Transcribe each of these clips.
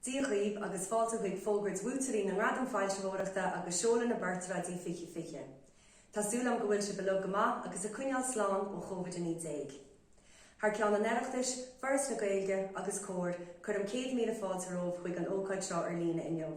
Dia dhaoibh agus fáilte chuig fógairt bhuaiteoirí na nGradam Foilsitheoireachta agus seoladh na bPortráidí 2020. Tá súil agam go bhfuil sibh uilig go maith agus ag coinneáil slán ó Covid-19. Thar ceann an Oireachtais, Foras na Gaeilge agus Comhar, cuirim céad míle fáilte romhaibh chuig an ócáid seo ar líne inniu.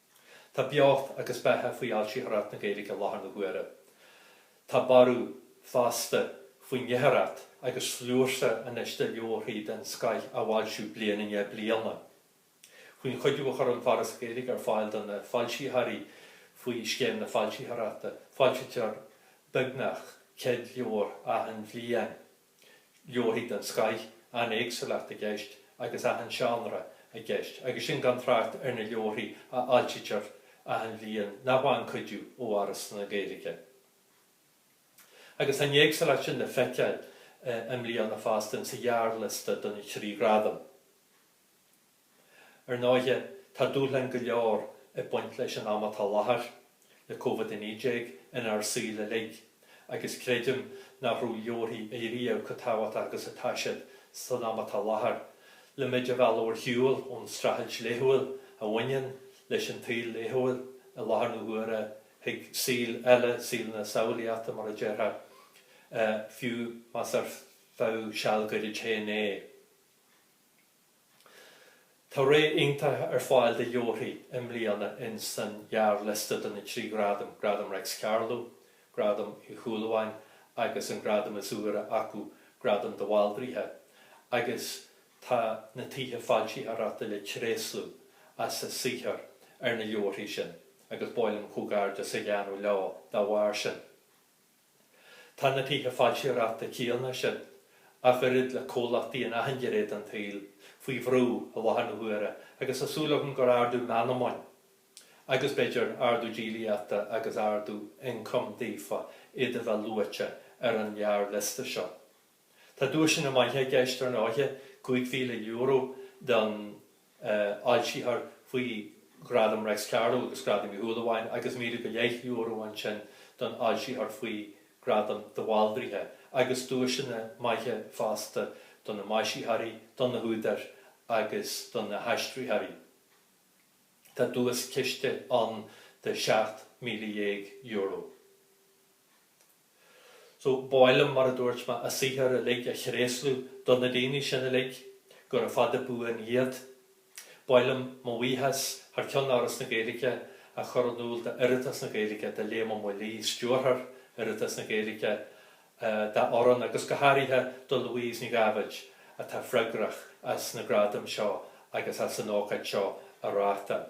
Tá beocht agus beatha faoi fhoilsitheoireacht na Gaeilge i láthair na huaire. Tá borradh, fosta, faoin léitheoireacht agus sluaite anois de leabharthaí den scoith á bhfoilsiú bliain i ndiaidh bliana. Faoin chuidiú a chuireann Foras na Gaeilge ar fáil do na foilsitheoirí faoi Scéim na Foilsitheoireachta, foilsítear beagnach 100 leabhar achan bhliain. leabharthaí den scoith, an-éagsúlacht i gceist agus achan seánra i gceist, agus sin gan trácht ar na leabharthaí a fhoilsítear achan bhliain nach bhfaigheann cuidiú ó Fhoras na Gaeilge. Agus tá an éagsúlacht sin le feiceáil i mbliana fosta insa ghearrliosta do na trí ghradam. Ar ndóighe, tá dúshláin go leor ag baint leis an am atá láthair, le Covid-19 inár saol uilig, agus creidim nach raibh leabharthaí ariamh chomh tábhachtach agus atá siad san am atá láthair, le muid a mhealladh ar shiúl ón streachailt laethúil a bhaineann leis an tsaol laethúil i láthair na huaire chuig saol eile, saol na samhlaíochta mar a déarfá, fiú más ar feadh seal gairid féin é. Tá réimse iontach ar fáil de leabharthaí i mbliana ins an ghearrliosta do na trí ghradam, Gradam Reics Carló, Gradam Uí Shúilleabháin agus an gradam is úire acu, Gradam de Bhaldraithe, agus tá na Tithe Foilsitheoireachta le tréaslú as a saothar ar na leabharthaí sin agus ba mhaith liom comhghairdeas a dhéanamh leo dá bharr sin. Tá na tithe foilsitheoireachta céanna sin, ach oiread le comhlachtaí in achan gné den tsaol, faoi bhrú i láthair na huaire agus tá súil agam gur ardú meanman agus, b'fhéidir, ardú díolaíochta agus ardú ioncaim daofa iad a bheith luaite ar an ngearrliosta seo. Tá duaiseanna maithe i gceist ar ndóiche, €5,000 don fhoilsitheoir faoi Ghradam Reics Carló agus Gradam Uí Shúilleabháin agus míle go leith euro ansin don fhoilsitheoir faoi Ghradam de Bhaldraithe agus duaiseanna maithe fosta do na maisitheoirí, do na húdair agus do na haistritheoirí. Tá duaischiste ann de €17,000. So b'áil liom mar a dúirt mé a saothar uilig a thréaslú do na daoine sin uilig gura fada buan iad. B'áil liom mo bhuíochas thar ceann Fhoras na Gaeilge a chur in iúl d'Oireachtas na Gaeilge, do Liam Ó Maolaodha, Stiúrthóir Oireachtas na Gaeilge, dá fhoireann agus go háirithe do Louise Nic Gabhaid atá freagrach as na gradaim seo agus as an ócáid seo a reáchtáil.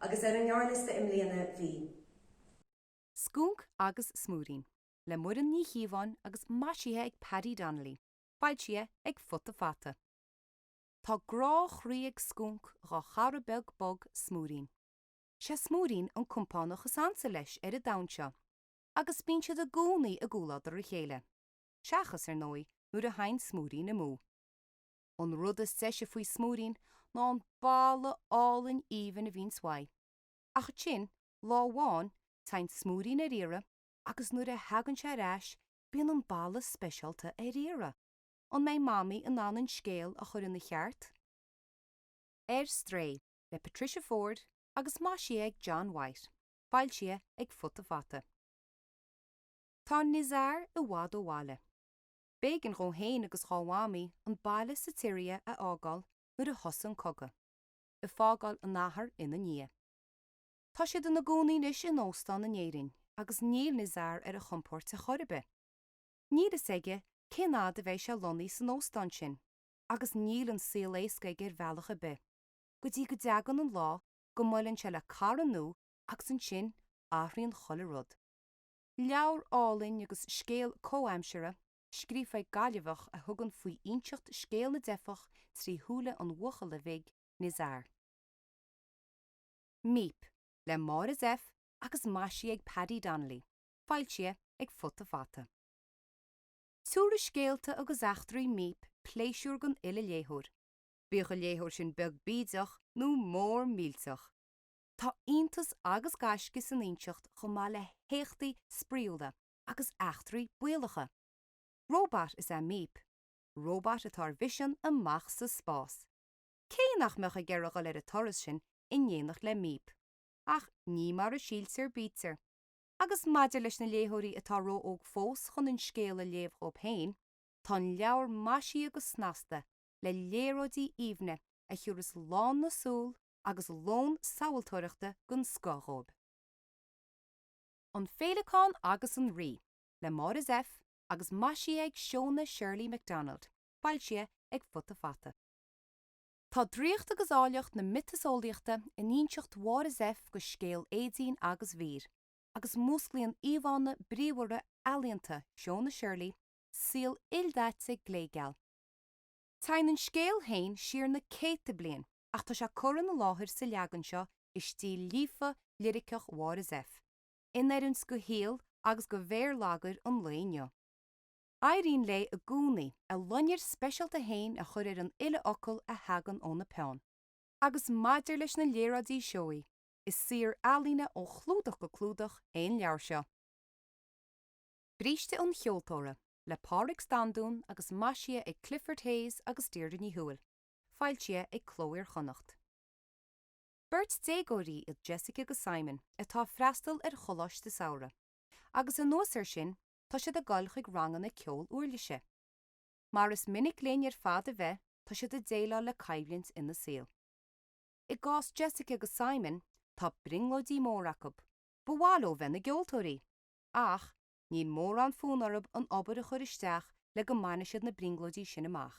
Agus ar an ngearrliosta i mbliana bhí. Scúnc agus Smúirín, le Muireann Ní Chíobháin agus maisithe ag Paddy Donnelly, foilsithe ag Futa Fata. Tá grá chroí ag Scúnc dhá chara beag bog, Smúirín. Sé Smúirín an compánach is ansa leis ar an domhan seo, agus bíonn siad i gcónaí i gcomhluadar a chéile, seachas, ar ndóigh, nuair a théann Smúirín amú. An rud is deise faoi Smúirín ná an boladh álainn aoibhinn a bhíonns uaidh. Ach ansin, lá amháin, téann Smúirín ar iarraidh agus nuair a theagann sé ar ais bíonn an boladh speisialta ar iarraidh. An mbeidh Mamaí in ann an scéal a chur ina cheart? Ar Strae le Patricia Forde agus maisithe ag John White, foilsithe ag Futa Fata. Tá Nizar i bhfad ó bhaile. B'éigin dhó fhéin agus dhá Mhamaí an baile sa tSiria a fhágáil nuair a thosaigh an cogadh, ag fágáil an athar in a ndiaidh. Tá siad in a gcónaí anois in óstán in Éirinn agus níl Nizar ar a chompóirt a' chor a' bith. Níl fhios aige cén fhad a bheidh sé lonnaithe san óstán sin agus níl an saol éasca aige ar bhealach a' bith, go dtí go dteagann an lá go mbuaileann sé le cara nua agus ansin athraíonn chuile rud. Leabhar álainn agus scéal comhaimseartha, scríofa ag Gaillimheach a thugann faoi inseacht scéal na dteifeach trí shúile an bhuachalla bhig, Nizar. Míp, le Máire Zepf agus maisithe ag Paddy Donnelly, foilsithe ag Futa Fata. Tiúrfaidh scéalta agus eachtraí Míp pléisiúr don uile léitheoir, bíodh an léitheoir sin beag bídeach nó mór millteach. Tá iontas agus gaisce san inseacht chomh maith le héachtaí spraíúla agus eachtraí baolacha. Róbat is ea Míp. Róbat atá ar mhisean amuigh sa spás. Cé nach mbeadh ag iarraidh dhul ar an turas sin in éineacht le Míp? Ach ní mar a síltear bítear. Agus maidir leis na léitheoirí atá ró-óg fós chun an scéal a léamh dhóibh féin, tá an leabhar maisithe go snasta le léaráidí aoibhne a thiúras lán na súl agus lón samhaltóireachta den scoth dhóib. An Féileacán agus an Rí, le Máire Zepf agus maisithe ag Shona Shirley Macdonald, foilsithe ag Futa Fata. Tá draíocht agus áilleacht na miotaseolaíochta in inseacht Mháire Zepf de scéal Éadaoin agus Mhír, agus músclaíonn íomhánna bríomhara ealaíonta Shona Shirley saol ildaite glégeal. Téann an scéal féin siar na céadta bliain ach tá sé curtha inár láthair sa leagan seo i stíl líofa liriceach Mháire Zepf, in oiriúint do shaol agus do bhéarlagair an lae inniu. Éiríonn léi i gcónaí a loinnir speisialta fhéin a chur ar an uile fhocal a thagann óna peann. Agus maidir leis na léaráidí seoigh, is saothar ealaíne ó chlúdach go clúdach é an leabhar seo. Bríste an Cheoltóra, le Pádraig Standún agus maisithe ag Clifford Hayes agus Deirdre Ní Thuathail. Foilsithe ag Cló Iar-Chonnacht. Beirt déagóirí iad Jessica agus Simon atá ag freastal ar choláiste samhraidh agus anuas air sin tá siad ag goil chuig ranganna ceol uirlise. Mar is minic linn ar fad a bheith tá siad ag déileáil le coimhlint ina saol. I gcás Jessica agus Simon tá brionglóidí móra acu, ba mhaith leo bheith ina gceoltóirí! Ach níl mórán fonn orthu an obair a chur isteach le go mbainfidh siad na brionglóidí sin amach.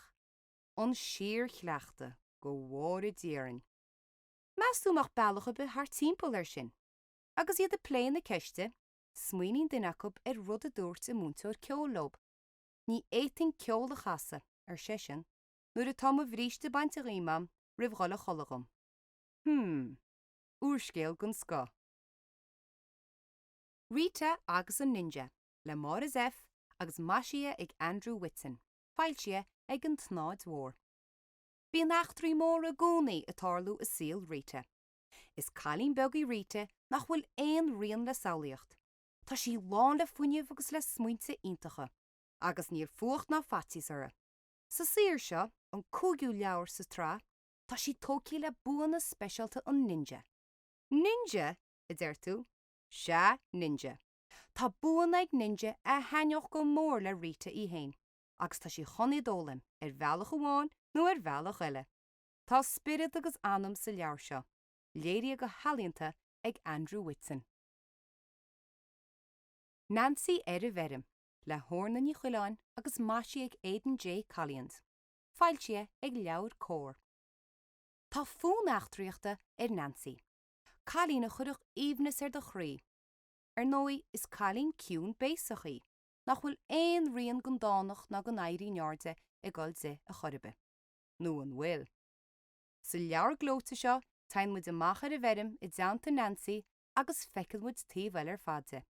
an síor-chleachtadh go bhfóire Dia orainn. Meas tú mbeadh bealach ar bith thart timpeall ar sin? Agus iad ag plé na ceiste, smaoiníonn duine acu ar rud a dúirt a múinteoir ceoil leo. Ní fhéadfainn ceol a chasadh, ar seisean, nuair atá mo bhríste bainte dhíom a'm roimh dhul a chodladh dhom. Hmm. Úrscéal den scoth. Rita agus an Ninja le Máire Zepf agus maisithe ag Andrew Whitson. foilsithe ag an tSnáthaid Mhór. Bíonn eachtraí móra i gcónaí ag tarlú i saol Rita. Is cailín beag í Rita nach bhfuil aon srian le samhlaíocht. Tá sí lán le fuinneamh agus le smaointe iontacha. Agus níl fuacht ná faitíos uirthi. Sa saothar seo, an cúigiú leabhar sa tsraith, tá sí tógtha le buanna speisialta an ninja. Ninja? a deir tú. Sea, ninja. Tá buanna ag Ninja a thaitneodh go mór le Rita í fhéin agus tá sí chun iad a fhoghlaim ar bhealach amháin nó ar bhealach eile. Tá spiorad agus anam sa leabhar seo, léirithe go healaíonta ag Andrew Whitson. Nancy ar an bhFeirm, le hOrna Ní Choileáin agus maisithe ag Aidan J. Collins, foilsithe ag LeabhairCOMHAR. Tá fonn eachtraíochta ar Nancy, cailín a chuirfeadh aoibhneas ar do chroí. Ar ndóigh is cailín ciúin béasach í nach bhfuil aon rian den dánacht ná den éirí in airde ag dul di a chor ar bith. Nó an bhfuil? Sa leabhar gleoite seo teigheann muid amach ar an bhfeirm i dteannta Nancy agus feiceann muid taobh eile ar fad di.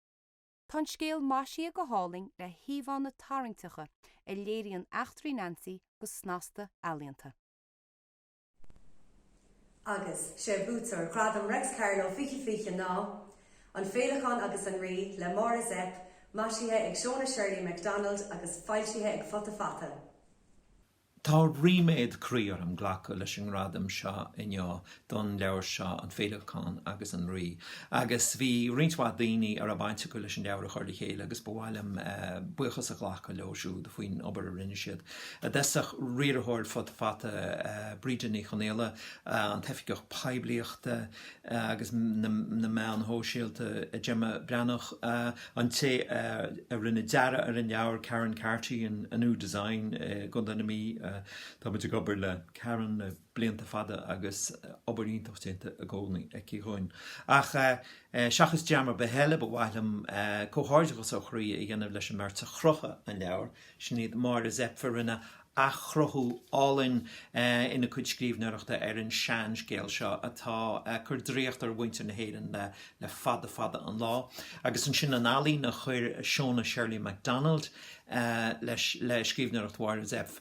Tá an scéal maisithe go hálainn le híomhánna tarraingteacha a léiríonn eachtraí Nancy go snasta ealaíonta. Agus sé buaiteoir Ghradam Reics Carló 20 20 ná, An Féileacán agus an Rí le Máire Zepf, maisithe ag Shona Shirley Macdonald agus foilsithe ag Futa Fata. Tá ríméad croí orm glacadh leis an ngradam seo inniu don leabhar seo, An Féileacán agus an Rí, agus bhí roinnt mhaith daoine a raibh baint acu leis an leabhar a chur le chéile agus ba mhaith liom buíochas a ghlacadh leo siúd faoin obair a rinne siad. a d'eisigh riarthóir Futa Fata, Breda Ní Chonghaile, an tOifigeach Poiblíochta agus na Meáin Shóisialta, Gemma Breathnach, an té a rinne dearadh ar an leabhar, Karen Carty, Anú Design i gContae na Mí, táimid ag obair le Karen le. blianta fada agus obair iontach déanta i gcónaí aici dhúinn. Ach seachas dream ar bith eile ba mhaith liom comhghairdeachas ó chroí a dhéanamh leis an mbeirt a chruthaigh an leabhar, sin iad Máire Zepf a rinne athchruthú álainn ina cuid scríbhneoireachta ar an seanscéal seo atá ag cur draíocht ar mhuintir na hÉireann le fada fada an lá, agus ansin an ealaín a chuir Shona Shirley Macdonald leis le scríbhneoireacht Mháire Zepf.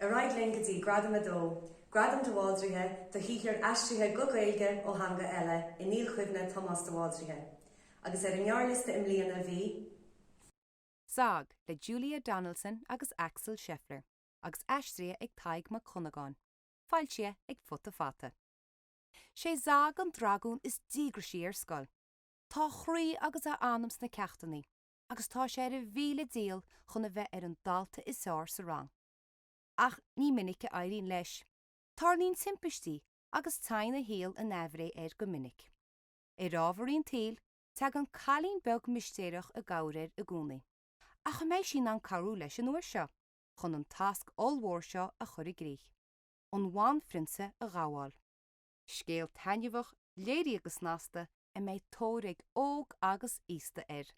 Ar aghaidh linn go dtí Gradam a Dó, Gradam de Bhaldraithe do shaothair aistrithe go Gaeilge ó theanga eile i ndilchuimhne Tomás de Bhaldraithe. Agus ar an ngearrliosta i mbliana bhí. Zag, le Julia Donaldson agus Axel Scheffler agus aistrithe ag Tadhg Mac Dhonnagáin, foilsithe ag Futa Fata. Sé Zag an dragún is díograisí ar scoil. Tá a chroí agus a anam sna ceachtannaí. agus tá sé ar a mhíle dícheall chun a bheith ar an dalta is fhearr sa rang. Ach ní minic a éiríonn leis. Tarlaíonn timpistí agus teigheann a shaol in aimhréidh air go minic. Ar ámharaí an tsaoil, teagann cailín beag mistéireach i gcabhair air i gcónaí. Ach an mbeidh sí in ann cabhrú leis an uair seo chun an tasc ollmhór seo a chur i gcrích, an bhanphrionsa a ghabháil? Scéal taitneamhach, léirithe go snasta, a mbeidh tóir ag óg agus aosta air.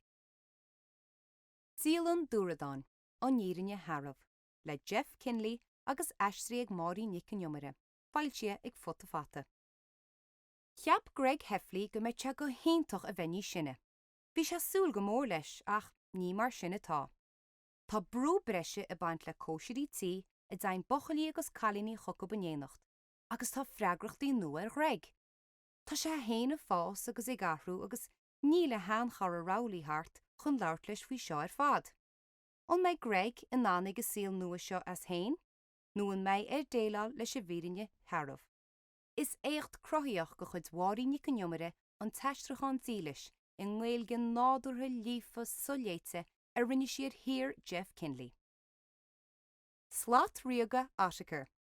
Dialann Dúradáin, An Fhírinne Shearbh, le Jeff Kinney agus aistrithe ag Máirín Nic Con Iomaire, foilsithe ag Futa Fata. Cheap Greg Heffley go mbeadh sé go hiontach a bheith níos sine. Bhí sé ag súil go mór leis ach ní mar sin atá. Tá brú breise ag baint le cóisirí tí a dteigheann buchaillí agus cailíní chucu in éineacht. agus tá freagrachtaí nua ar Ghreg. Tá sé fhéin ag fás agus ag athrú agus níl a shean-chara Rowley thart chun labhairt leis faoi seo ar fad. An mbeidh Greg in ann ag an saol nua seo as fhéin nó an mbeidh air déileáil leis an bhfírinne shearbh? Is éacht cruthaíochta de chuid Mháirín Nic an Iomaire an t-aistriúchán dílis i nGaeilge nádúrtha líofa so-léite a rinne sí ar shaothar Jeff Kinney. Slat ríoga Ottokar.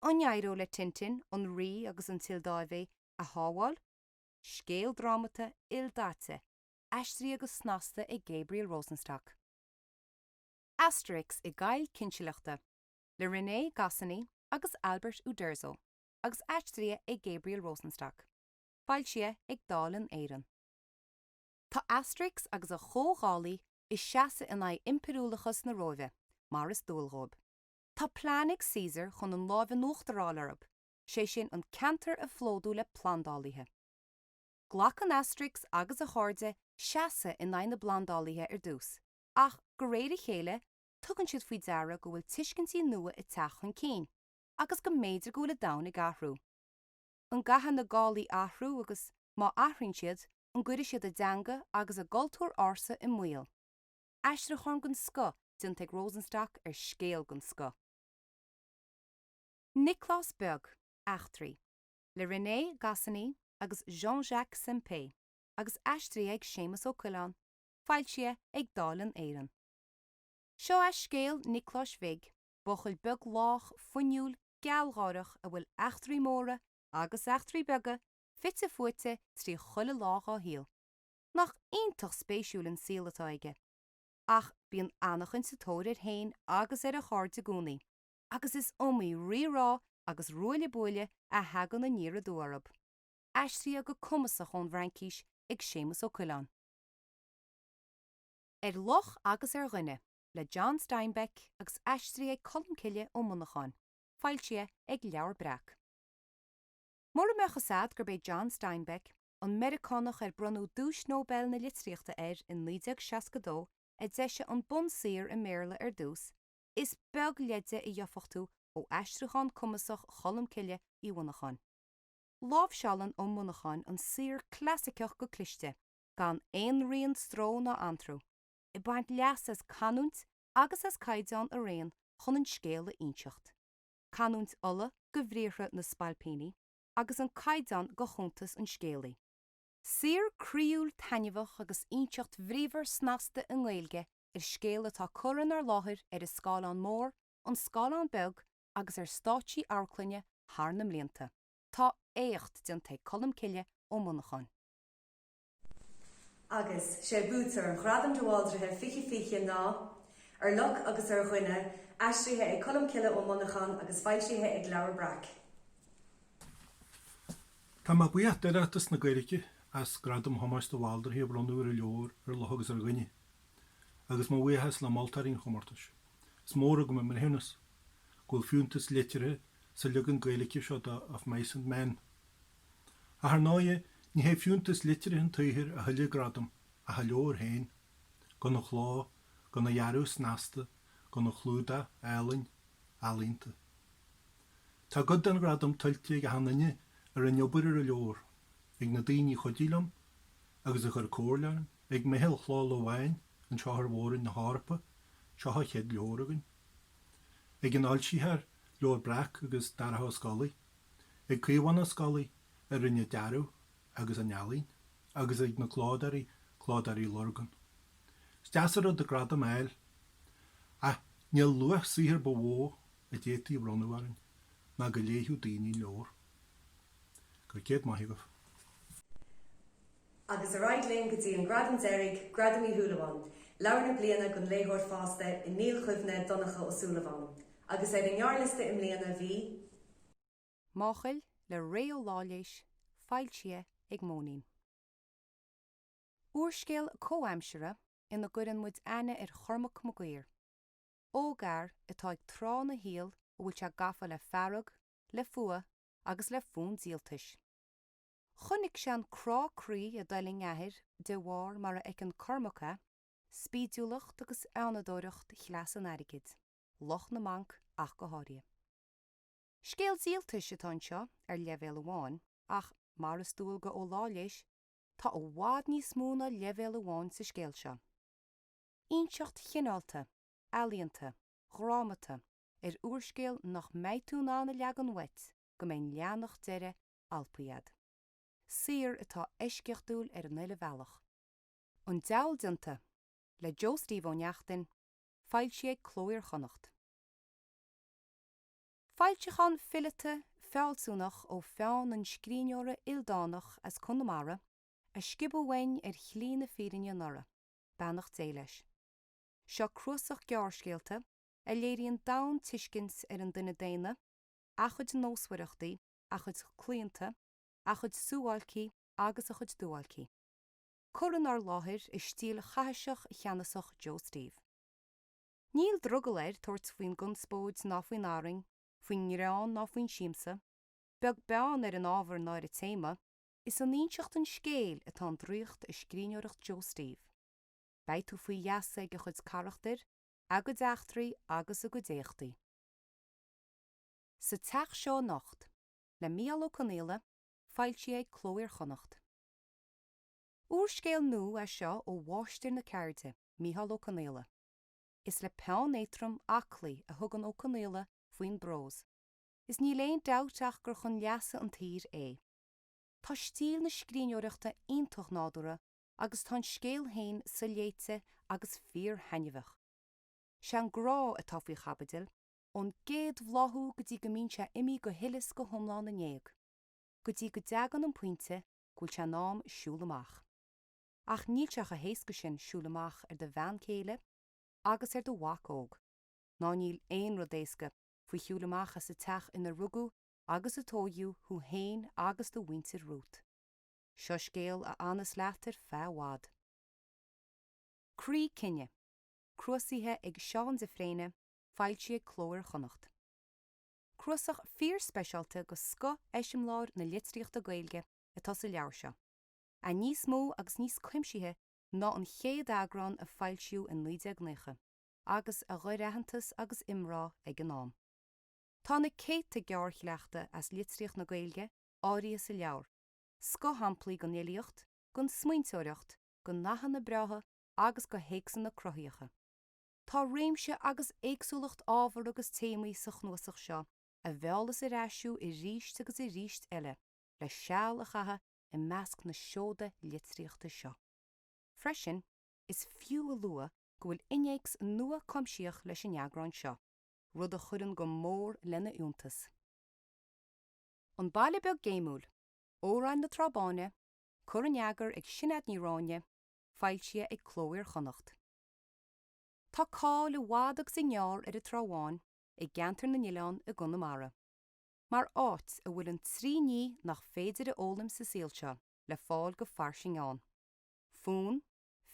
An n-éireoidh le Tintin an Rí agus an tSioldáiv a shábháil? Scéal drámata, ildaite, aistrithe go snasta ag Gabriel Rosenstock. Asterix i gCoill na Cinsealachta, le René Goscinny agus Albert Uderzo agus aistrithe ag Gabriel Rosenstock. Foilsithe ag Dalen Éireann. Tá Asterix agus a chomh-Ghallaigh ag seasamh in aghaidh impiriúlachas na Róimhe, mar is dual dhóibh. Tá plean ag Caesar chun an lámh in uachtar a fháil orthub, sé sin an ceantar a phlódú le plandálaithe. Glacann Asterix agus a chairde seasamh in aghaidh na bplandálaithe ar dtús, ach go réir a chéile tugann siad faoi deara go bhfuil tuiscintí nua ag teacht chun cinn, agus go mb'fhéidir go bhfuil an domhan ag athrú. An gcaithfidh na Gallaigh athrú agus, má athraíonn siad, an gcuirfidh siad a dteanga agus a gcultúr ársa i mbaol? aistriúchán den scoth déanta ag Rosenstock ar scéal den scoth. Nioclás Beag, Eachtraí, le René Goscinny agus Jean Jacques Sempé agus aistrithe ag Séamus Ó Coileáin, foilsithe ag Dalen Éireann. Seo é scéal Niocláis Bhig, buachaill beag lách, fuinniúil, gealgháireach a bhfuil eachtraí móra agus eachtraí beaga fite fuaite trí chuile lá dhá shaol. Nach iontach spéisiúil an saol atá aige. Ach bíonn anachain sa tóir air fhéin agus ar a chairde i gcónaí, agus is iomaí rí-rá agus ruaille buaille a thagann aniar aduaidh orthub. Aistrithe go cumasach ón bhFraincís ag Séamus Ó Coileáin. Ar Luch agus ar Dhuine, le John Steinbeck agus aistrithe ag Colmcille Ó Monacháin, foilsithe ag Leabhar Breac. Mura mbeadh a fhios agat gurb é John Steinbeck an Meiriceánach ar bronnadh Duais Nobel na Litríochta air in 1962, a d'eisigh an bunsaothar i mBéarla ar dtús, is beag leide a gheofadh tú ó aistriúchán cumasach Cholmcille Uí Mhonacháin. Láimhseálann Ó Monacháin an saothar clasaiceach go cliste, gan aon rian stró ná anró, ag baint leas as canúint agus as caighdeán araon chun an scéal a inseacht. Canúint Uladh do bhriathra na spailpíní. agus an caighdeán de chuntas an scéalaí. Saothar croíúil taitneamhach agus inseacht bhríomhar snasta i nGaeilge ar scéal atá curtha inár láthair ar an scáileán mór, an scáileán beag agus ar stáitsí amharclainne thar na mblianta. Tá éacht déanta ag Colmcille Ó Monacháin. Agus sé buaiteoir Ghradam de Bhaldraithe 2020 ná, Ar luch agus ar dhuine, aistrithe ag Colm Cille Ó Monacháin agus foilsithe ag Leabhar Breac. Tá mé buíoch d'Oireachtas na Gaeilge as Gradam Thomáis de Bhaldraithe a bhronnadh ar an leabhar Ar luch agus ar dhuine, agus mo bhuíochas le moltóirí an chomórtais. Is mór agam a mbreithiúnas go bhfuil fiúntas liteartha sa leagan Gaeilge seo de Of Mice and Men. Ach ar ndóigh ní hé fiúntas liteartha an tsaothair a thuill an gradam ach an leabhar féin. Gona chló, gona dhearadh snasta, gona chlúdach álainn, ealaíonta. Tá cuid den ghradam tuillte ag achan duine a rinne obair ar an leabhar, ag na daoine a chuidigh liom agus a chuir comhairle orm, ag meitheal Chló Lobháin anseo ar mhór-roinn na hEorpa, seo an chéad leabhar againn! ag an fhoilsitheoir Leabhar Breac agus Darach Ó Scolaigh. ag Caomhán Ó Scolaí a rinne an dearadh agus an ealaín agus ag na clódóirí Clódóirí Lurgan. Is deas an rud an gradam a fháil ach níl luach saothair ba mhó a d'fhéadfaí a bhronnadh orainn ná go léighfeadh daoine an leabhar. Go raibh céad maith agaibh. Agus ar aghaidh linn go dtí an gradam deiridh, Gradam Uí Shúilleabháin, Leabhar na Bliana don Léitheoir Fásta i ndilchuimhne Donncha Ó Súilleabháin. Agus ar an ngearrliosta i mbliana bhí. Máchail le Ré Ó Laighléis, foilsithe ag Móinín. Úrscéal comhaimseartha ina gcuireann muid aithne ar Chormac Mac Uidhir, ógfhear atá ag tráth ina shaol a bhfuil sé gafa le fearg, le fuath agus le fonn díoltais. Chonnaic sé an crá croí a d'fhulaing a athair de bharr mar a fheiceann Cormac é, spídiúlacht agus fheannadóireacht chleas an airgid, lucht na mbanc ach go háirithe. Scéal díoltais atá anseo ar leibhéal amháin ach, mar is dual do Ó Laighléis, tá i bhfad níos mó ná leibhéal amháin sa scéal seo. Inseacht chineálta, ealaíonta, dhrámata ar úrscéal nach mbeidh tú in ann a leagan uait go mbeidh an leathanach deiridh alpaithe agat. Saothar atá eisceachtúil ar an uile bhealach. An Diabhal Déanta, le Joe Steve Ó Neachtain, foilsithe ag Cló Iar-Chonnacht. Foilseachán fileata, fealsúnach ó pheann an scríbhneora ildánach as Conamara a sciobadh uainn ar shlí na fírinne anuraidh, beannacht Dé leis. Seo cnuasach gearrscéalta a léiríonn domhaintuiscint ar an duine daonna, a chuid nósmhaireachtaí, a chuid claonta, a chuid suáilcí agus a chuid duáilcí, curtha 'nár láthair i stíl chaithiseach cheannasach Joe Steve. Níl drogall air tabhairt faoin gconspóid ná faoin arraing, faoin ngreann ná faoin siamsa, beag beann ar an ábhar ná ar an téama, is in inseacht an scéil atá an draíocht i scríbhneoireacht Joe Steve. Beidh tú faoi gheasa ag a chuid carachtar, a gcuid eachtraí agus a gcuid éachtaí. sa Teach seo anocht, le Mícheál Ó Conghaile, foilsithe ag Cló Iar-Chonnacht. Úrscéal nua é seo ó mháistir na ceirde, Mícheál Ó Conghaile. Is le peann éatrom, aclaí, a thugann Ó Conghaile faoin bprós, is níl aon dabht ach gur chun leasa an tsaothair é. Tá stíl na scríbhneoireachta iontach nádúrtha agus tá an scéal féin soléite agus fíorthaitneamhach. Sé an grá atá faoi chaibidil, ón gcéad bhláthú go dtí go mbíonn sé imithe go huile 's go hiomlán in éag, go dtí go dteagann an pointe go bhfuil sé in am siúl amach. Ach níl sé chomh héasca sin siúl amach ar do bhean céile agus ar do mhac óg, ná níl aon rud éasca faoi shiúl amach as a' teach inar rugadh agus a tóigeadh thú fhéin agus do mhuintir romhat. Seo scéal a fhanfas leat ar feadh i bhfad. Croí Cine, cnuasaithe ag Seán de Fréine, foilsithe ag Cló Iar Chonnacht. Cnuasach fíor-speisialta de scoth eiseamláir na litríochta Gaeilge atá sa leabhar seo, é níos mó agus níos cuimsithí ná an chéad eagrán a foilsíodh in 1990 agus a ghnóthaigh aitheantas agus iomrá ag an am. Tá na céadta gearr-shleachta as litríocht na Gaeilge áirithe sa leabhar, scoth-shamplaí den fhilíocht, den smaointeoireacht, de nathanna breátha agus de théacsanna cruthaitheacha. Tá réimse agus éagsúlacht ábhar agus téamaí sa chnuasach seo a mheallfas ar ais thú arís agus arís eile le seal a chaitheamh i measc na seoda litríochta seo. Freisin, is fiú a lua go bhfuil innéacs nua cuimsitheach leis an eagrán seo, rud a chuireann go mór lena fhiúntas. An Baile Beag Géimiúil. Amhráin na Trá Báine, curtha in eagar ag Sinéad Ní Ráighne, foilsithe ag Cló Iar-Chonnacht. Tá cáil i bhfad agus i ngearr ar an Trá Bháin i gceantar na nOileán i gConamara mar áit a bhfuil an trí ní nach féidir a fhoghlaim sa saol seo le fáil go fairsing ann, fonn,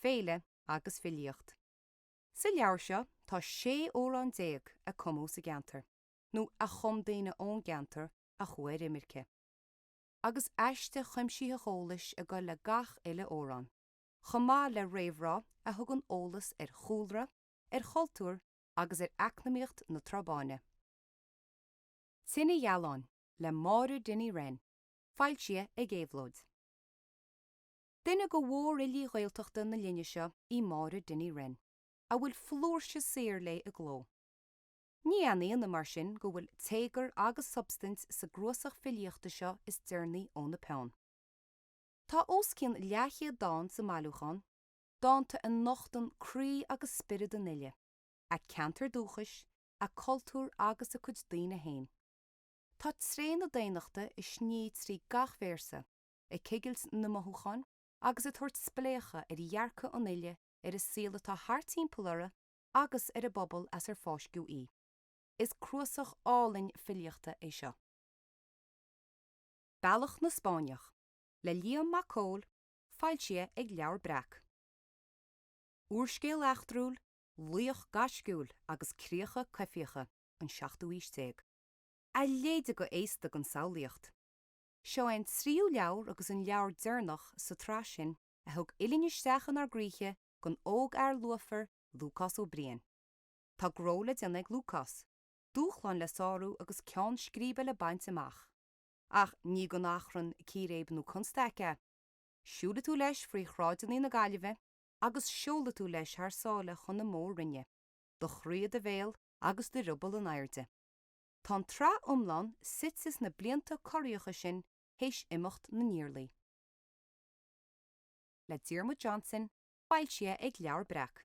féile agus filíocht. Sa leabhar seo tá sé amhrán déag a cumadh sa gceantar nó a chum daoine ón gceantar a chuaigh ar imirce, agus aiste chuimsitheach eolais ag gabháil le gach uile amhrán. chomh maith le réamhrá a thugann eolas ar chúlra, ar chultúr agus ar eacnamaíocht na Trá Báine. Tine Ghealáin le Máire Dinny Wren, foilsithe ag Éabhlóid. Duine de mhórfhilí Ghaeltachta na linne seo í Máire Dinny Wren, a bhfuil flúirse saothar léi i gcló. Ní aon ionadh mar sin go bhfuil téagar agus substaint sa gcnuasach filíochta seo is deireanaí óna peann. Tá os cionn leathchéad dán sa mbailiúchán, dánta a nochtann croí agus spiorad an fhile, a ceantar dúchais, a cultúr agus a cuid daoine féin. Tá tréith na daonnachta ag sní trí gach véarsa, ag cigilt na mothúchán agus ag tabhairt spléachadh ar dhearcadh an fhile ar an saol atá thart timpeall uirthi agus ar an bpobal as ar fáisceadh í. Is cnuasach álainn filíochta é seo. Bealach na Spáinneach, le Liam Mac Cóil, foilsithe ag Leabhar Breac. Úrscéal eachtrúil, laoch gaisciúil agus críocha coimhthíocha an seachtú aois déag, a leithéide de fhéasta don samhlaíocht. Seo é an tríú leabhar agus an leabhar deireanach sa tsraith sin a thug uillinn isteach inár gcroíthe don ógfhear lúfar Lúcás Ó Briain. Tá gnó le déanamh ag Lúcás, dúshláin le sárú agus ceann scríbe le baint amach. Ach ní gan achrann, círéib nó constaic é. Siúlfaidh tú leis frí shráideannaí na Gaillimhe agus seolfaidh tú leis thar sáile chun na Mór-Roinne, do chroí i do bhéal agus do rioball in airde. Tá an tsraith iomlán suite sna blianta corraitheacha sin théis Imeacht na nIarlaí. le Diarmuid Johnson, foilsithe ag Leabhar Breac.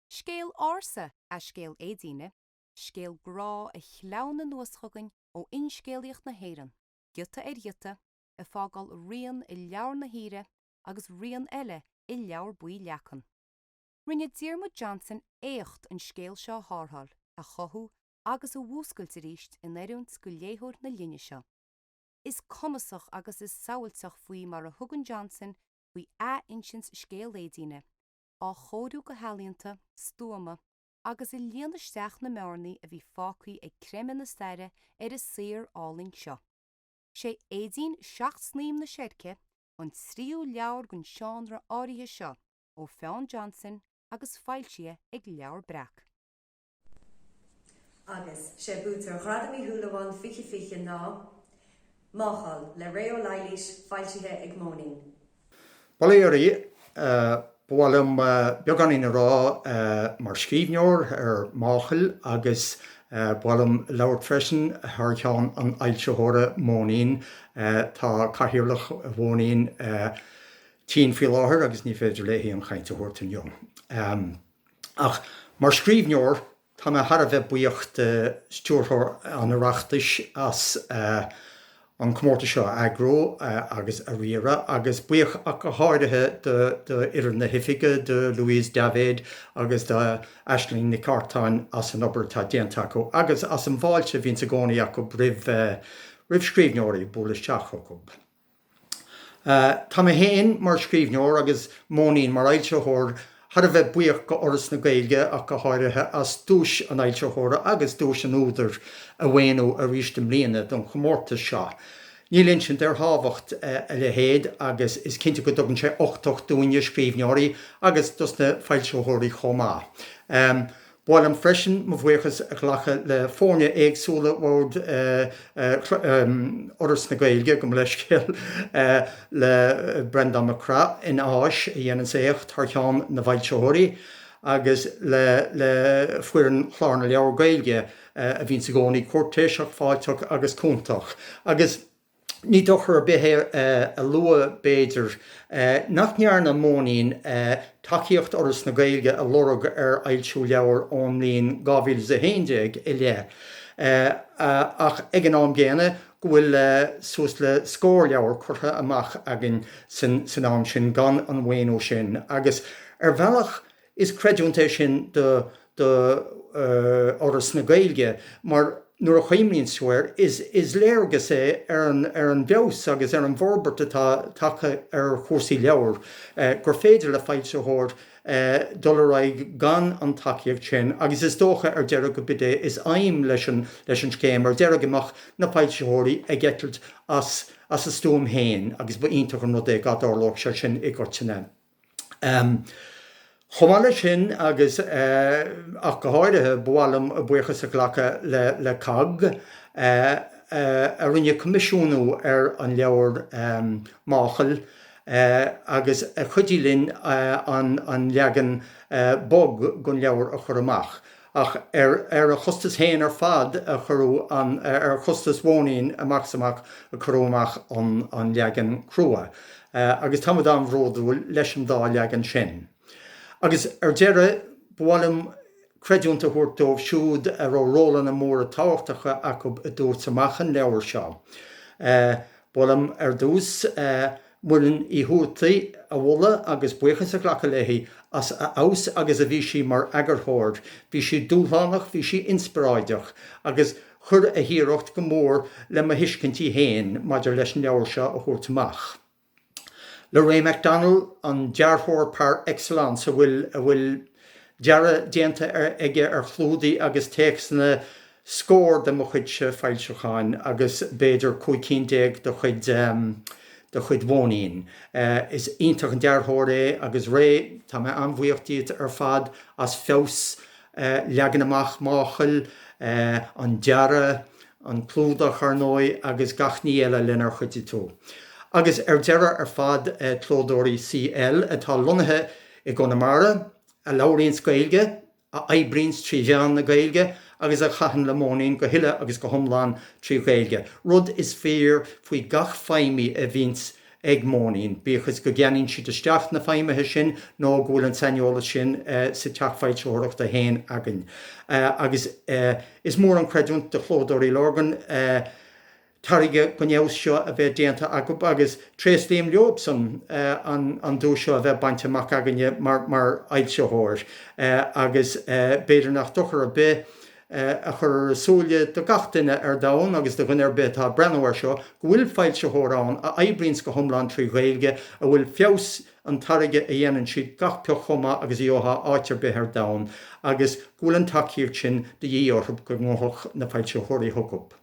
Scéal ársa é scéal Éadaoine, Scéal grá a shleamhnaigh anuas chugainn ó fhinscéalaíocht na hÉireann, giota ar ghiota, ag fágáil rian i Leabhar na hUidhre agus rian eile i Leabhar Buí Leacan. Rinne Diarmuid Johnson éacht an scéal seo a thárrtháil, a chothú agus a mhúscailt arís in oiriúint do léitheoir na linne seo. Is cumasach agus is samhailteach faoi mar a thugann Johnson faoi athinsint scéal Éadaoine, á chóiriú go healaíonta, stuama, agus ag líonadh isteach na mbearnaí a bhí fágthaí ag creimeadh na staire ar an saothar álainn seo. Sé Éadaoin Seacht Snaidhm na Seirce an tríú leabhar den seánra áirithe seo ó pheann Johnson agus foilsithe ag Leabhar Breac. Agus sé buaiteoir Ghradam Uí Shúilleabháin 2020 ná, Máchail, le Ré Ó Laighléis, foilsithe ag Móinín. Ba mhaith liom ó, ba mhaith liom beagáinín a rá mar scríbhneoir ar Máchail agus ba mhaith liom labhairt freisin thar cheann an fhoilsitheora Móinín. Tá Cathaoirleach Mhóinín tinn faoi láthair agus ní féidir léithi an chaint a thabhairt inniu. Ach mar scríbhneoir. Tá mé thar a bheith buíoch do Stiúrthóir an Oireachtais as an comórtas seo a eagrú agus a riaradh agus buíoch ach go háirithe d'fhoireann na hoifige, do Louise Davitt agus do Aisling Nic Artáin as an obair atá déanta acu agus as an bhfáilte a bhíonns i gcónaí acu roimh scríbhneoirí ag bualadh isteach chucu. Tá mé féin mar scríbhneoir agus Móinín mar fhoilsitheoir thar a bheith buíoch do Fhoras na Gaeilge ach go háirithe as duais an fhoilsitheora agus duais an údair a mhaoiniú aríst i mbliana don chomórtas seo. Níl insint ar thábhacht a leithéid agus is cinnte go dtugann sé uchtach dúinne, scríbhneoirí, agus dos na foilsitheoirí chomh maith. mhaith liom freisin mo bhuíochas a ghlacadh le foirne éagsúla Bhord Fhoras na Gaeilge, gabh mo leithscéal, le Breandán Mac Craith, in Áis, a dhéananns éacht thar cheann na bhfoilsitheoirí, agus le foireann Chlár na Leabhar Gaeilge, a bhíonns i gcónaí cúirtéiseach, fáilteach agus cúntach, agus. Ní dochar ar bith é a lua, b'fhéidir, nach ndearna Móinín tacaíocht Fhoras na Gaeilge a lorg ar fhoilsiú leabhair ón mbliain 2011 i leith, ach ag an am gcéanna go bhfuil suas le scór leabhar curtha amach againn san am sin gan an mhaoiniú sin, agus ar bhealach Is creidiúint é sin do Fhoras na Gaeilge mar nuair a chuimhníonns tú air is léargas é ar an bhfeabhas agus ar an bhforbairt atá tagtha ar chúrsaí leabhar gur féidir le foilsitheoir dul ar aghaidh gan an tacaíocht sin agus is dócha ar deireadh gurb in é is aidhm leis an scéim ar deireadh go mbeadh na foilsitheoirí ag eitilt as a stuaim féin agus ba iontach an rud é dhá dtarlódh sé sin i gcoitinne. Chomh maith leis sin agus ach go háirithe, ba mhaith liom buíochas a ghlacadh le COGG a rinne coimisiúnú ar an leabhar Máchail agus a chuidigh linn an leagan bog den leabhar a chur amach. ach ar a chostas fhéin ar fad a cuireadh an, ar chostas Mhóinín amach is amach a cuireadh amach an leagan crua agus táimid an-bhródúil leis an dá leagan sin. Agus ar deireadh, ba mhaith liom creidiúint a thabhairt dóibh siúd a raibh rólanna móra tábhachtacha acu i dtabhairt amach an leabhair seo. Ba mhaith liom ar dtús. Muireann Ní Thuataí a mholadh agus buíochas a ghlacadh léi as a fheabhas agus a bhí sí mar eagarthóir. Bhí sí dúshlánach, bhí sí inspioráideach agus chuir an iarracht go mór le mo thuiscintí féin maidir leis an leabhar seo a thabhairt amach. Ray McDonnell, an dearthóir par excellence a bhfuil dearadh déanta aige ar chlúdaigh agus téacsanna, scór de mo chuidse foilseacháin agus b'fhéidir cúig cinn déag de chuid de chuid Mhóinín. Is iontach an dearthóir é agus Ray tá mé an-bhuíoch díot ar fad as feabhas leagan amach Máchail, an dearadh, an clúdach ar ndóigh agus gach ní eile lenar chuidigh tú. Agus ar deireadh ar fad Clódóirí CL atá lonnaithe i gConamara, a labhraíonns Gaeilge a oibríonns trí mheán na Gaeilge agus a chaitheann le Móinín go huile agus go hiomlán trí Ghaeilge, rud is fíor faoi gach feidhmí a bhíonns ag Móinín, bíodh is go gceannaíonn siad isteach na feidhmithe sin nó go bhfuil an saineolas sin sa teach foilsitheoireachta féin againn. Agus is mór an chreidiúint do Chlódóirí Lurgan an. tairge den fheabhas seo a bheith déanta acub agus tréaslaím leob san an duais seo a bheith bainte amach againne mar mar fhoilsitheoir agus b'fhéidir nach dochar ar bith a chur ar a shúile do gach duine ar domhan agus do dhuine ar bith atá ag breathnú air seo go bhfuil foilsitheoir ann a oibríonns go hiomlán trí Ghaeilge a bhfuil feabhas an tairge a dhéanann siad gach pioc chomh maith agus a gheofá áit ar bith ar domhan agus go bhfuil an tacaíocht sin de dhíth orthub go ngabhfadh na foilsitheoirí chucub.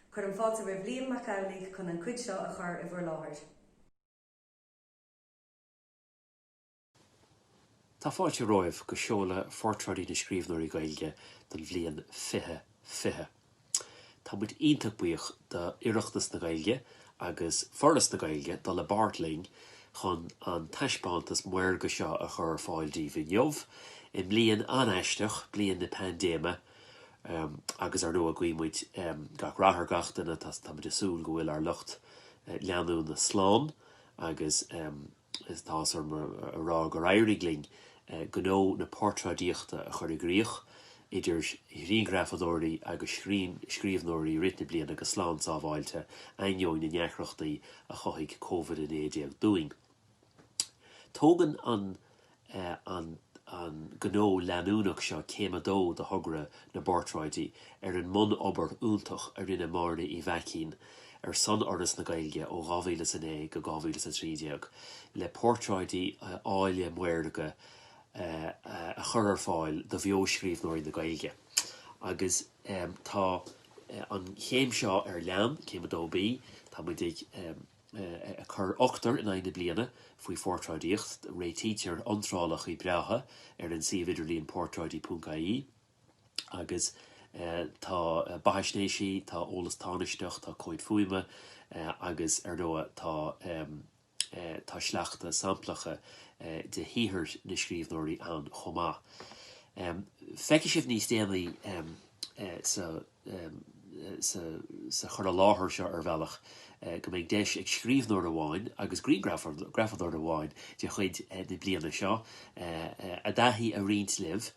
Cuirim fáilte roimh Liam Mac Amhlaigh chun an cuid seo a chur i bhur láthair. Tá fáilte romhaibh chuig seoladh Phortráidí na Scríbhneoirí Gaeilge don bhliain 2020. Tá muid iontach buíoch do Oireachtas na Gaeilge agus Foras na Gaeilge dul i bpáirt linn chun an taispeántas maorga seo a chur ar fáil daoibh inniu, i mbliain an-aisteach, bliain na paindéime. Agus ar ndóigh guímid gach rath ar gach duine, táimid ag súil go bhfuil ár lucht leanúna slán agus tá áthas orm a rá gur éirigh linn gnó na portráidíochta a chur i gcríoch, idir ghrianghrafadóirí agus scríbhneoirí i rith na bliana go slán sábháilte, ainneoin na ndeacrachtaí a chothaigh Covid-19 dúinn. Tógann an an an gnó leanúnach seo céim a dó de thogra na bPortráidí ar an mbunobair iontach a rinne Máire Uí Mhaicín ar son Fhoras na Gaeilge ó 2009 go 2013 le portráidí áille maorga a chur ar fáil do bheo-scríbhneoirí na Gaeilge agus tá an chéim seo ar leith, céim a dó B, tá muid ag. eh, a chur ochtar in aghaidh na bliana faoi phortráidíocht. Réitítear iontrálacha breátha ar an suíomh idirlín portráidí ponc IE agus eh, tá eh, beathaisnéisí, tá eolas tánaisteach, tá comhaid fuaime eh, agus ar ndóigh tá, em, eh, tá sleachta samplacha eh, de shaothair na scríbhneoirí ann chomh maith. Em, Feicfidh sibh níos déanaí em, eh, sa sa chur i láthair seo ar bhealach go mbeidh deis ag scríbhneoir amháin agus grianghrafadóir amháin de chuid na bliana seo a dtaithí a roinnt libh,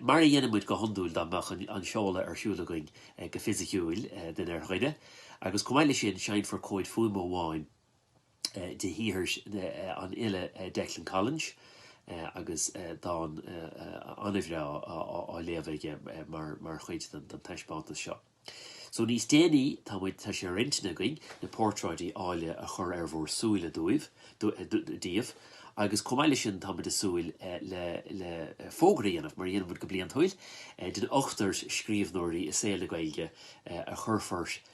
mar a dhéanann muid go hiondúil dá mbeadh an seoladh ar siúl againn go fisiciúil, duine ar dhuine. Agus chomh maith leis sin, seinnfear comhad fuaime amháin. de shaothar an fhile Declan Collinge agus dán an-bhreá á léamh aige mar chuid den taispeántas seo. So níos déanaí tá muid, tá sé ar intinn againn na portráidí áille a chur ar bhur súile dúibh, daoibh, agus chomh maith leis sin táimid ag súil le fógra a dhéanamh, mar a dhéanaimid go bliantúil, den ochtar scríbhneoirí i saol na Gaeilge a chuirfear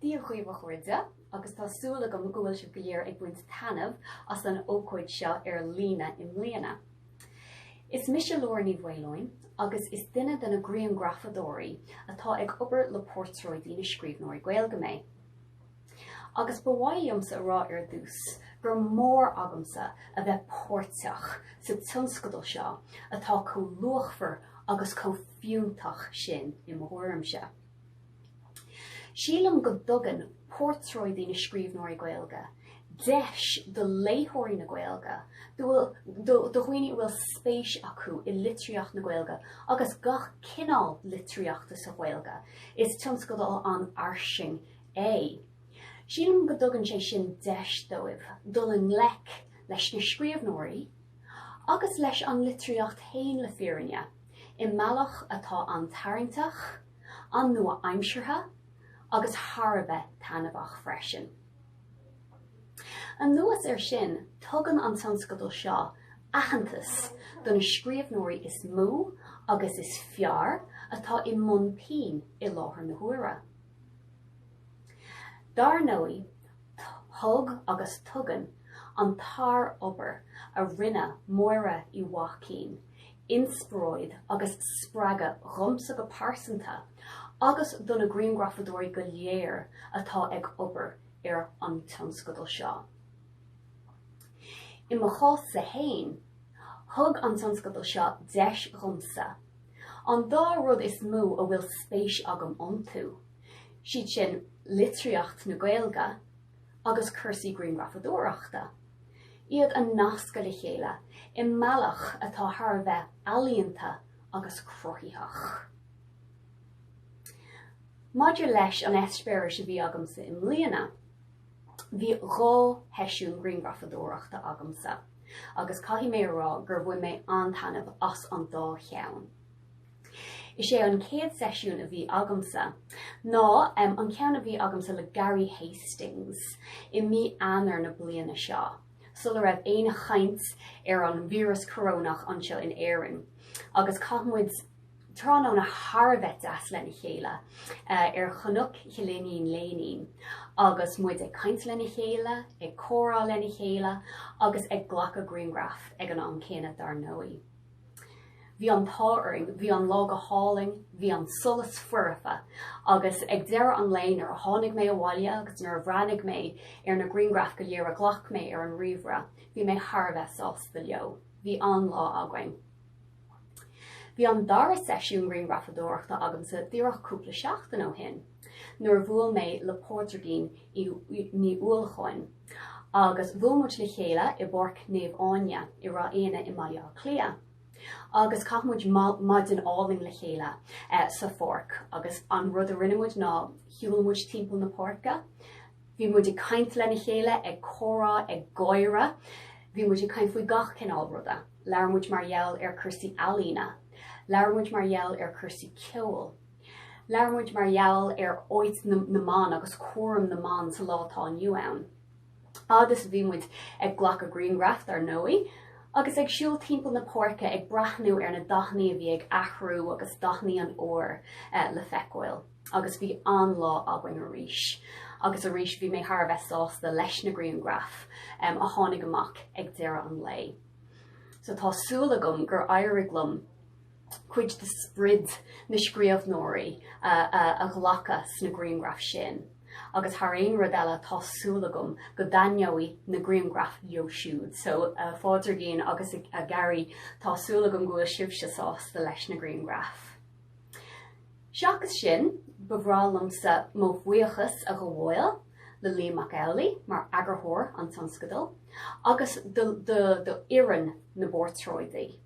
Dia dhaoibh a chairde agus tá súil agam go bhfuil sibh go léir ag baint taitneamh as an ócáid seo ar líne i mbliana. Is mise Laura Ní Mhaoileoin agus duine de na grianghrafadóirí atá ag obair le Portráidí na Scríbhneoirí Gaeilge mé. Agus ba mhaith liomsa a rá ar dtús gur mór agamsa a bheith páirteach sa tionscadal seo atá chomh luachmhar agus chomh fiúntach sin i mo thuairimse. Sílim go dtugann Portráidí na Scríbhneoirí Gaeilge deis do léitheoirí na Gaeilge, do dhaoine a bhfuil spéis acu i litríocht na Gaeilge agus gach cineál litríochta sa Ghaeilge, is tionscadal an-fhairsing é, sílim go dtugann sé sin deis dóibh dul i ngleic leis na scríbhneoirí agus leis an litríocht féin le fírinne. i mbealach atá an-tarraingteach, an-nua-aimseartha agus thar a bheith taitneamhach freisin. Anuas air sin, tugann an tionscadal seo aitheantas do na scríbhneoirí is mó agus is fearr atá i mbun pinn i láthair na huaire. Dar ndóigh, thug agus tugann an tsár-obair a rinne Máire Uí Mhaicín inspioráid agus spreagadh dhomsa go pearsanta agus do na grianghrafadóirí go léir atá ag obair ar an tionscadal seo. I mo chás-sa fhéin, thug an tionscadal seo deis dhomsa an dá rud is mó a bhfuil spéis agam iontu, siad sin litríocht na Gaeilge agus cúrsaí grianghrafadóireachta, iad a nascadh le chéile i mbealach atá thar a bheith ealaíonta agus cruthaitheach. Maidir leis an eispéiris a bhí agamsa i mbliana, bhí dhá sheisiún grianghrafadóireachta agamsa agus caithfidh mé a rá gur bhain mé an-taitneamh as an dá cheann. Is é an chéad seisiún a bhí agamsa ná an ceann a bhí agamsa le Gary Hastings i mí Eanáir na bliana seo, sula raibh aon chaint ar an víreas corónach anseo in Éirinn, agus chaith muid tráthnóna thar a bheith deas lena chéile ar Chnoc Chill Iníon Léinín agus muid ag caint lena chéile, ag comhrá lena chéile agus ag glacadh grianghraf ag an am céanna dar ndóigh. Bhí an t-ádh orainn, bhí an lá go hálainn, bhí an solas foirfe agus ag deireadh an lae nuair a tháinig mé abhaile agus nuair a bhreathnaigh mé ar na grianghraif go léir a ghlac mé ar an ríomhaire bhí mé thar a bheith sásta leo. Bhí an-lá againn. Bhí an dara seisiún grianghrafadóireachta agamsa díreach cúpla seachtain ó shin. nuair a bhuail mé le Pádraigín Ní Uallacháin agus bhuail muid le chéile i bPáirc Naomh Áine i Ráth Eanaigh i mBaile Átha Cliath agus chaith muid maidin álainn le chéile sa pháirc agus an rud a rinne muid ná shiúl muid timpeall na páirce, bhí muid ag caint lena chéile, ag comhrá, ag gáire, bhí muid ag caint faoi gach cineál ruda, labhair muid mar gheall ar cúrsaí ealaíne, labhair muid mar gheall ar cúrsaí ceoil. Labhair muid mar gheall ar áit na mban agus cúram na mban sa lá atá inniu ann. Agus bhí muid ag glacadh grianghraf dar ndóigh, agus ag siúl timpeall na páirce ag breathnú ar na dathannaí a bhí ag athrú agus dathannaí an fhómhair le feiceáil. Agus bhí an-lá againn arís. Agus arís bhí mé thar a bheith sásta leis na grianghraif a tháinig amach ag deireadh an lae. So tá súil agam gur éirigh liom cuid de sprid na scríobhnóirí a ghlacadh sna grianghraif sin agus thar aon rud eile tá súil agam go dtaitneoidh na grianghraif leo siúd. So a Phádraigín agus a Gary tá súil agam go bhfuil sibhse sásta leis na grianghraif. Seachas sin ba bhreá liomsa mo bhuíochas a ghabháil le Liam Mac Amhlaidh mar eagarthóir an tionscadail agus le foireann na bPortráidí.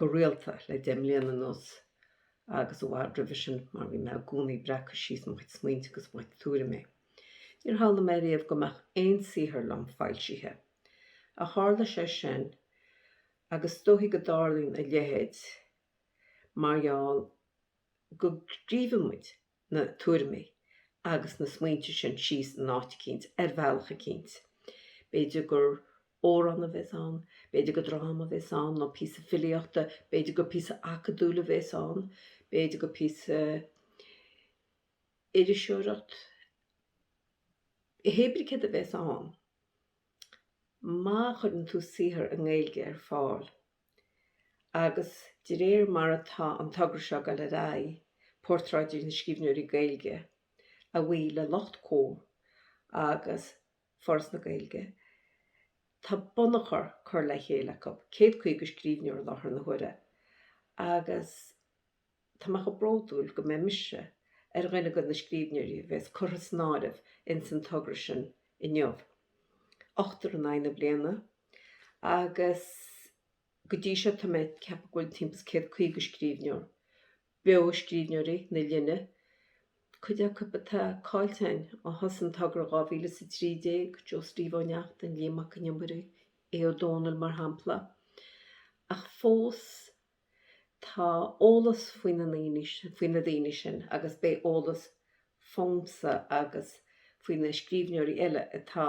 go rialta le deich mbliana anuas agus i bhfad roimhe sin mar bhí mé i gcónaí ag breacadh síos mo chuid smaointe agus mo chuid tuairimí. Níor shamhlaigh mé riamh go mbeadh aon saothar liom foilsithe. Ach tharla sé sin agus is dóichí go dtarlaíonn a leithéid mar gheall go scríobhann muid, na tuairimi agus na smaointe sin síos in áit eicínt, ar bhealach eicínt. B'fhéidir gur amhrán a bheas ann, b'fhéidir gur dráma a bheas ann, nó píosa filíochta, b'fhéidir gur píosa acadúil a bheas ann, b'fhéidir gur píosa iriseoireachta, hé brí céard a bheas ann, má chuireann tú saothar i nGaeilge ar fáil, Agus de réir mar atá an togra seo ag dul ar aghaidh, Portráidí na Scríbhneoirí Gaeilge, a bhuí le lucht Comhar agus Foras na Gaeilge, tá bunachar curtha le chéile acu, céad caoga scríbhneoir i láthair na huaire, agus. Tá mé chomh bródúil go mbeidh mise ar dhuine de na scríbhneoirí a bhéas curtha san áireamh ins an togra sin inniu. Ochtar in aghaidh na bliana agus go dtí seo tá mé ag ceapadh go bhfuil timpeall is céad caoga scríbhneoir beo, scríbhneoirí na linne, cuid acu atá caillte againn ó thosaigh an togra dhá mhíle is a trí déag, Joe Steve Ó Neachtain, Liam Mac Con Iomaire, Aodh Ó Domhnaill mar shampla. Ach fós. Tá eolas faoi, faoi na daoine sin agus beidh eolas fúmsa agus faoi na scríbhneoirí eile atá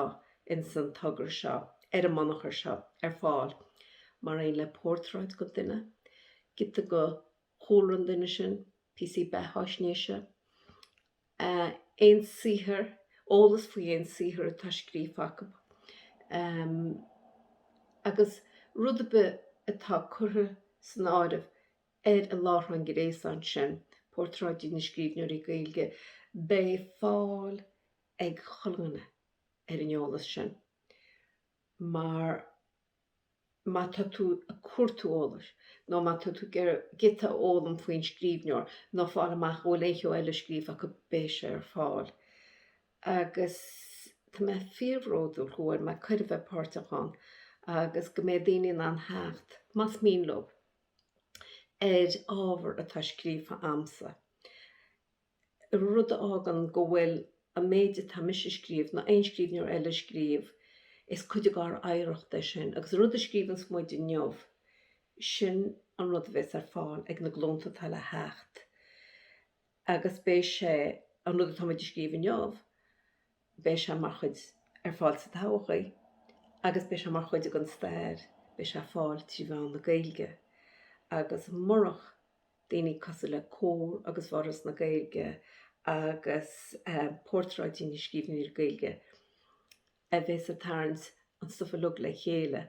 ins an togra seo, ar an mbunachar seo, ar fáil mar aon le portráid den duine, giota de chúlra an duine sin, píosaí beathaisnéise, aon saothar, eolas faoi aon saothar atá scríofa acu, agus rud ar bith atá curtha san áireamh ar an láithreán gréasáin sin, Portráidí na Scríbhneoirí Gaeilge, beidh fáil ag chuile dhuine ar an eolas sin mar. má tá tú ag cuartú eolais, nó má tá tú ag iarraidh giota a fhoghlaim faoin scríbhneoir, nó fáil amach an bhfuil aon cheo eile scríofa acu, beidh sé ar fáil. Agus tá mé fíorbhródúil go bhfuair mé cuireadh bheith páirteach ann, agus go mbeidh daoine in ann theacht, más mian leo, ar ábhar atá scríofa a'msa. rud a fhágann go bhfuil an méid atá mise a scríobh, ná aon scríbhneoir eile a scríobh, is cuid de ár oidhreacht é sin, agus an rud a scríobhas muid inniu, sin an rud a bhéas ar fáil ag na glúnta atá le theacht, agus beidh sé, an rud atá muid a scríobh inniu, beidh sé mar chuid, ar fáil sa todhchaí agus beidh sé mar chuid den stair, beidh sé ar fáil trí mheán na Gaeilge. Agus murach daoine cosúil le Comhar agus Foras na Gaeilge agus Portráidí na Scríbhneoirí Gaeilge a bheas ag tarraingt an stuif uilig le chéile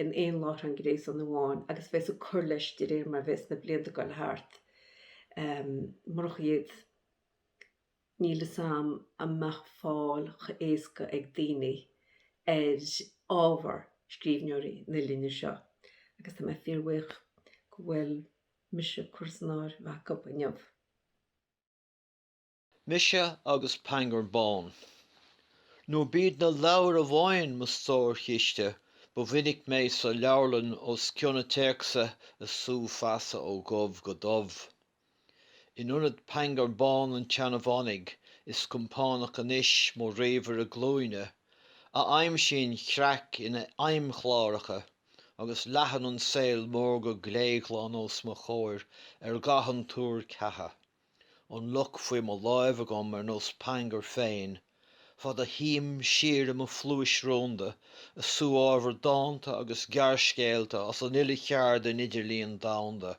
in aon láithreán gréasáin amháin agus a bheas ag cur leis de réir mar a bheas na blianta ag dul thart, murach iad, Níl fhios a'm a mbeadh fáil cho h-éasca ag daoine ar ábhar scríbhneoirí na linne seo agus tá mé fíor-bhuíoch go bhfuil mise curtha san áireamh acu inniu. Mise agus Pangur Bán. Nuair ab iad na leabhair amháin mo stórchiste, ba mhinic mé sa leabharlann os cionn téacsa a sú feasa ó dhubh go dubh. In ionad Pangur Bán an tseanmhanaigh is compánach anois mo ríomhaire glúine, a aimsíonn creach ina fheidhmchláracha agus leathann an saol mór go gléghlan os mo chomhair ar dhath an tuair cheatha, an luch faoi mo láimh agam ar nós Pangur féin, fad a shuím thiar i mo phluais rúnda a sú ábhar dánta agus gearrscéalta as an uile cheard den idirlíon domhanda.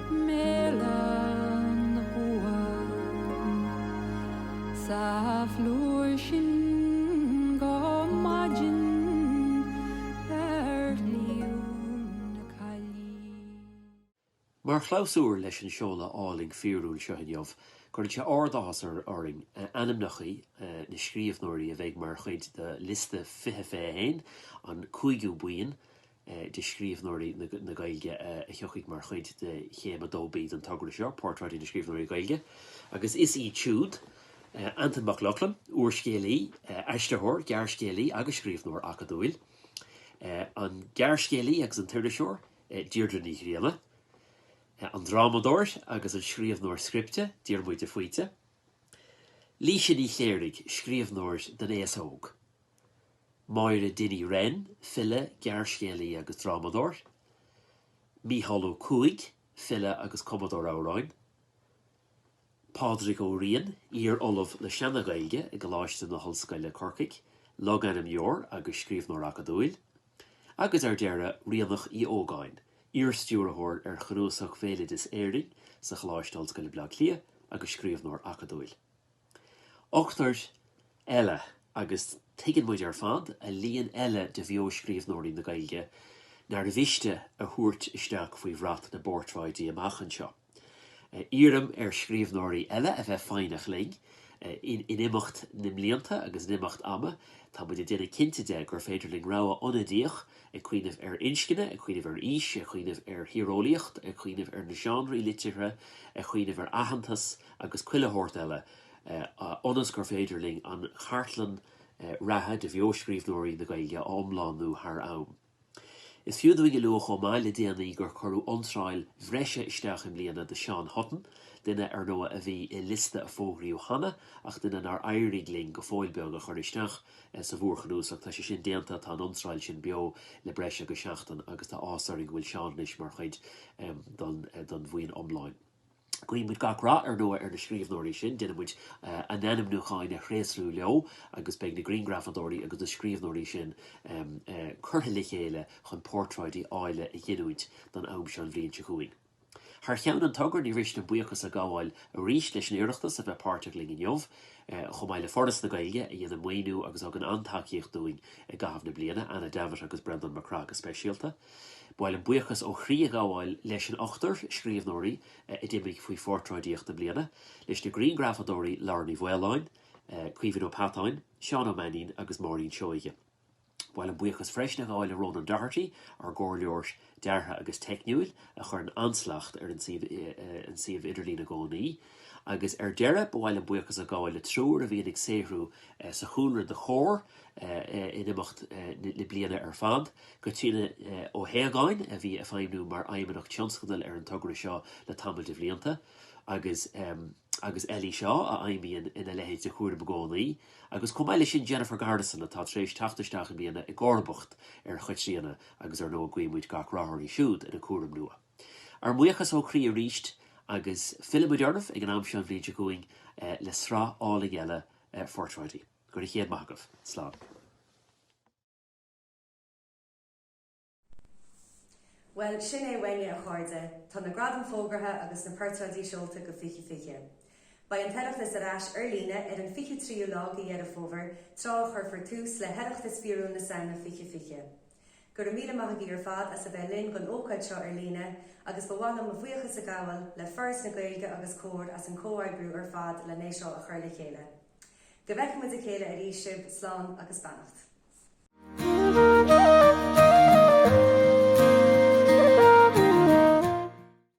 Meallann uaim sa phlúr sin go maidin ar shliabh na Caillí. Mar chlabhsúr leis an seoladh álainn fíorúil seo inniu, cuireann sé ard-áthas orainn ainmneachaí na scríobhnóirí a bheidh mar chuid de liosta fiche fiche a haon, an cúigiú buíon, de scríobhnóirí na Gaeilge a thiocfaidh mar chuid de Chéim 2B den togra seo, Portráidí na Scríbhneoirí Gaeilge, agus is iad siúd, Antain Mac Lochlainn, úrscéalaí, aistritheoir, gearrscéalaí agus scríobhnóir acadúil, an gearrscéalaí agus an t-iriseoir, Deirdre Ní Ghrianna, an drámadóir agus an scríobhnóir scripte, Diarmuid de Faoite, Laoise Ní Chléirigh, scríobhnóir don aos óg. Máire Dinny Wren, file, gearrscéalaí agus drámadóir. Mícheál Ó Cuaig, file agus cumadóir amhráin. Pádraig Ó Riain, iar-Ollamh le Seana-Ghaeilge i gColáiste na hOllscoile Corcaigh, logainmneoir agus scríobhnóir acadúil. Agus ar deireadh, Ríonach Uí Ógáin, iar-Stiúrthóir ar Chnuasach Bhéaloideas Éireann sa Choláiste Ollscoile Bleá Cliath agus scríobhnóir acadúil. Ochtar eile, agus tuigeann muid ar fad, a líon eile de bheo-scríbhneoirí na Gaeilge, nár mhiste a thabhairt isteach faoi bhrat na bportráidí amach anseo. Iarraim ar scríbhneoirí eile a bheith foighneach linn. In imeacht na mblianta agus in imeacht ama, tá muid ag déanamh cinnte de gur féidir linn rogha ionadaíoch, ag cuimhneamh ar inscne, ag cuimhneamh ar aois, ag cuimhneamh ar thíreolaíocht, ag cuimhneamh ar na seánraí liteartha, ag cuimhneamh ar aitheantas, agus chuile shórt eile, ionas gur féidir linn an chartlann reatha de bheoscríbhneoirí na Gaeilge a iomlánú thar am. Is fiú dúinn a lua chomh maith le déanaí gur cuireadh iontráil bhreise isteach i mbliana do Sheán Hutton, duine, ar ndóigh, a bhí i liosta a fógraíodh cheana ach duine nár éirigh linn, go fóill beag, a chur isteach sa mhórchnuasach. Tá sé sin déanta, tá an iontráil sin beo le breis agus seachtain agus tá áthas orainn go bhfuil Seán anois mar chuid den bhuíon iomlán. Guíonn muid gach rath ar ndóigh ar na scríbhneoirí sin, déanann muid a n-ainmniúchán a thréaslú leo agus beidh na grianghrafadóirí agus na scríbhneoirí sin curtha le chéile chun portráidí áille a ghiniúint don am seo an bhliain seo chugainn. Thar cheann an Togra ní mhiste buíochas a ghabháil arís leis an Oireachtas a bheith páirteach linn inniu, chomh maith le Foras na Gaeilge a dhéanann maoiniú agus a thugann an-tacaíocht dúinn i gcaitheamh na bliana, Anna Davitt agus Breandán Mac Craith go speisialta. Ba mhaith liom buíochas ó chroí a ghabháil leis an ochtar scríbhneoirí a d'imigh faoi Phortráidíocht na Bliana, leis na grianghrafadóirí Lauren Uí Mhaoláin, Caoimhín Ó Peatáin, Seán Ó Mainnín agus Maureen Seoighe. Ba mhaith liom buíochas freisin a ghabháil le Ronan Doherty, ár gcomhairleoir deartha agus teicniúil, a chuireann an-slacht ar an suíomh idirlín i gcónaí. Agus ar deireadh, ba mhaith liom buíochas a ghabháil le triúr a bhíonn ag saothrú sa chúlra do Chomhar in imeacht na bliana ar fad, Caitríona Ó hAodhagáin a bhí ag feidhmiú mar Fheidhmeannach Tionscadail ar an togra seo le tamall de bhlianta agus agus Ellie Shaw a fheidhmíonn ina leithéid de chúram i gcónaí, agus chomh maith leis sin Jennifer Garrison atá tar éis teacht isteach i mbliana i gcomharbacht ar Chaitríona agus ar ndóigh guímid gach rath uirthi siúd ina cúram nua. Ár mbuíochas ó chroí arís agus fillfimid oraibh ag an am seo an bhliain seo chugainn le sraith álainn eile phortráidí. Go raibh céad maith agaibh. Slán. Bhuel, sin é uainne, a chairde. Tá na gradaim fógartha agus na portráidí seolta go 2020. Beidh an tOireachtas ar ais ar líne ar an 23ú lá go Dheireadh Fómhair, tráth a chuirfear tús le hOireachtas Fíorúil na Samhna 2020. Go raibh míle maith agaí ar fad as a bheith linn gon ócáid seo ar líne agus ba mhaith liom mo bhuíochas a ghabháil le Foras na Gaeilge agus Comhar as an gcomhoibriú ar fad len é seo a chur le chéile. Go bhfeice muid a chéile arís sibh, slán agus beannacht.